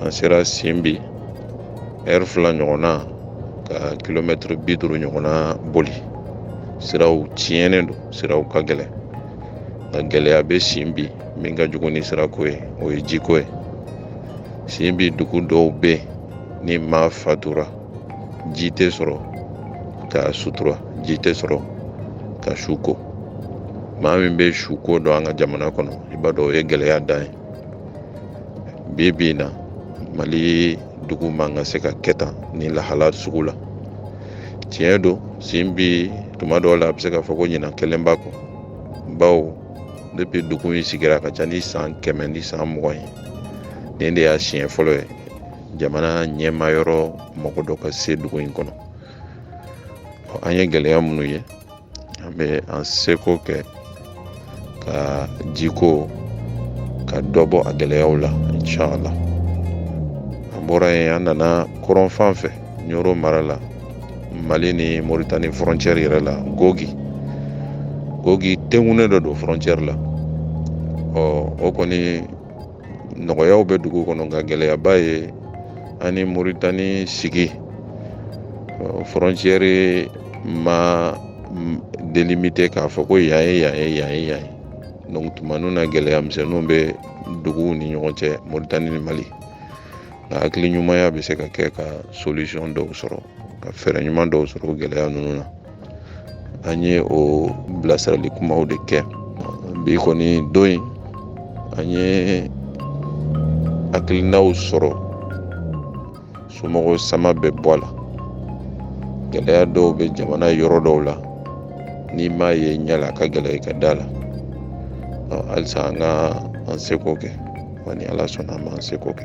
an sera simbi ɛri fila ɲɔgɔnna ka kilomɛtiri bi duuru ɲɔgɔnna boli siraw tiɲɛnen don siraw ka gɛlɛn nka gɛlɛya bɛ simbi min ka jugu ni sirako ye o ye jiko ye simbi dugu dɔw bɛ yen ni maa fatura ji tɛ sɔrɔ k'a sutura ji tɛ sɔrɔ ka su ko maa min bɛ suko dɔn an ka jamana kɔnɔ i b'a dɔn o ye gɛlɛya dan ye bi bi in na mali dugu man ka se ka kɛ tan nin lahala sugu la tiɲɛ don simbi tuma dɔw la a bɛ se k'a fɔ ko ɲinan kɛlen b'a kɔ bawo depi dugu in sigira ka ca ni san kɛmɛ ni san mugan ye nin de y'a siɲɛ fɔlɔ ye jamana ɲɛmayɔrɔ mɔgɔ dɔ ka se dugu in kɔnɔ an ye gɛlɛya minnu ye an bɛ an seko kɛ ka jiko ka dɔ bɔ a gɛlɛyaw la inchala an bɔra yen an nana kɔrɔn fan fɛ ɲoro mara la mali ni moritani frontiɛri yɛrɛ la gogi gogi tengunen dɔ don frontiɛri la ɔ o kɔni nɔgɔyaw bɛ dugu kɔnɔ nka gɛlɛyaba ye a ni moritani sigi frontiɛri ma delimite k'a fɔ ko yan ye yan ye yan ye yan ye donc tuma ninnu na gɛlɛya misɛnninw bɛ duguw ni ɲɔgɔn cɛ moritani ni mali nka hakili ɲumanya bɛ se ka kɛ ka solisɔn dɔw sɔrɔ ka fɛɛrɛ ɲuman dɔw sɔrɔ gɛlɛya ninnu na an ye o bilasirali kumaw de kɛ bi kɔni don in an ye hakilinaw sɔrɔ somɔgɔw sama bɛ bɔ a la gɛlɛya dɔw bɛ jamana yɔrɔ dɔw la n'i m'a ye ɲɛ la a ka gɛlɛn i ka da a la halisa an ka an seko kɛ wa ni ala sɔnna an b'an seko kɛ